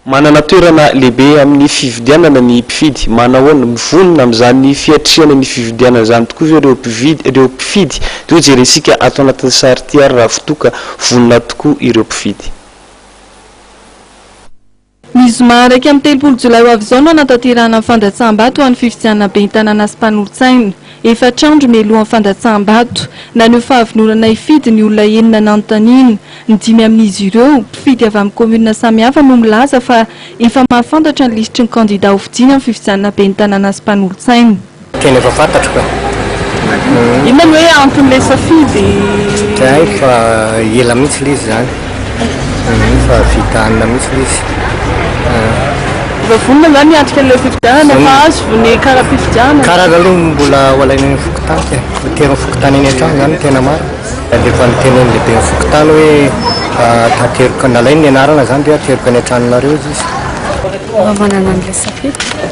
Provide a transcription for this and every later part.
Manana toerana lehibe amin'ny fividianana ny mpifidy. Manahoana? Mivonona amin'izany fiatrehana ny fividianana izany tokoa ve ireo mpividy, ireo mpifidy? Toy ny jerentsika ato anatin'ny sary ity ary raha fitoa ka vonona tokoa ireo mpifidy. Ny zoma iraika amby telopolo jolay ho avy izao no hanatanterahana ny fandatsaham-bato ho an'ny fifidianana ben'ny tanàna sy mpanolotsaina. Efatra andro mialohan'ny fandatsaham-bato, naneho fahavononana hifidy ny olona enina nanontaniana. Ny dimy amin'izy ireo, mpifidy avy amin'ny kaominina samihafa no milaza fa efa mahafantatra ny lisitry ny kandidà hofidiana amin'ny fifidianana ben'ny tanàna sy mpanolotsaina. Tena efa fantatro ka. Inona no hoe anton'ilay safidy? Tsy hay fa ela mihitsy ilay izy izany. Mino fa vita hanina mihitsy ilay izy ah. Efa vonona zany hiatrika an'ilay fifidianana, efa azo ny kara-pifidianana. Kara zany aloha mbola ho alaina eny fokontany ka e. Votery ny fokontany eny an-trano zany no tena marina. Alefa niteny ny lehiben'ny fokontany hoe ateriko, nalainy ny anarana zany hoe ateriko any an-tranonareo izy. Raha manana an'ilay safidy.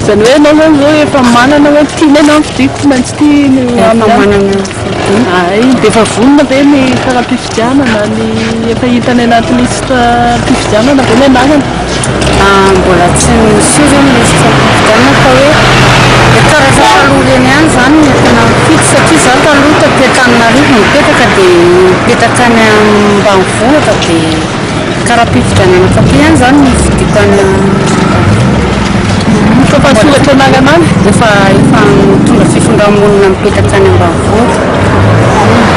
Izany hoe ianao izany izao efa manana hoe tiana ianao ny fidiako tsy maintsy tia ny manana Ay, dia efa vonona ve ny hifaram-pifidianana ny efa hita any anaty lisitra mpifidianana ve ny anarana? Ah, mbola tsy niseho izao ny lisitra mpifidianana fa hoe dia karazana taloha ireny ihany izany no efa nampiditra satria izaho taloha taty Antananarivo no nipetraka dia nipetraka any ambanivohitra dia Ka raha am-pifidianana fakay ihany izany ny fidiko an'i Toa fa soratra anarana any? Efa efa mitondra fifindra-monina mipetaka any ambanivohitra.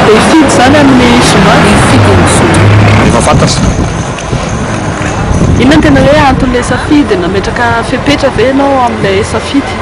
Dia hifidy izany amin'ny zoma? Hifidy amin'ny zoma. Efa fantatra. Inona no tena hoe anton'ilay safidy? Nametraka fepetra ve ianao amin'ilay safidy?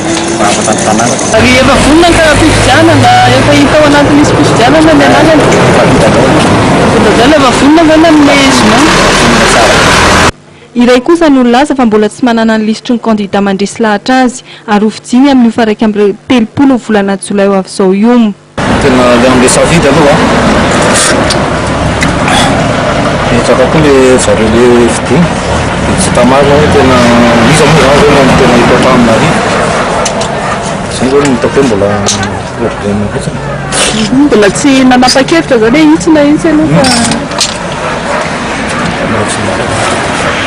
mpivavaka ny tanàna. Rehefa vonona ny fifidianana, efa hita ao anatin'ny lisi-pifidianana ny anarana? Efa vita daholo. Efa vita daholo, efa vonona ve ny amin'ny zoma? Efa vonona tsara. Iray kosa no nilaza fa mbola tsy manana ny lisitry ny kandida mandresy lahatra azy ary ho fijiny amin'io faha iraika amby telopolo ny volana jolay ho avy izao io. Tena le anglais savidy aloha an. Betsaka koa le zareo le fidiana. Dia tsy hita marina hoe tena iza moa izany izao no tena hipoitra aminy ary izay izao no hitako hoe mbola problème fotsiny. Mbola tsy nanapa-kevitra izany hoe intsona mihitsy aloha fa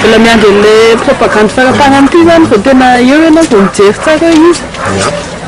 mbola miandry an'ilay propagandy faramparan'ity izany vao tena eo ianao vao mijery tsara hoe iza.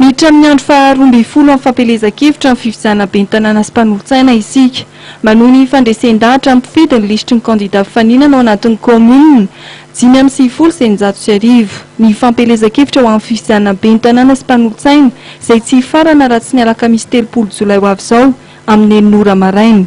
Miditra amin'ny andro faha roa ambin'ny folo amin'ny fampielezan-kevitra ny fifidianana ben'ny tanàna sy mpanolotsaina isika. Manohy ny fandresen-dahatra ny mpifidy ny lisitry ny kandidà mpifaninana ao anatin'ny kaominina dimy amby sivifolo sy eninjato sy arivo. Ny fampielezan-kevitra ho amin'ny fifidianana ben'ny tanàna sy mpanolotsaina izay tsy hifarana raha tsy ny alakamisy telopolo jolay ho avy izao amin'ny enina ora maraina.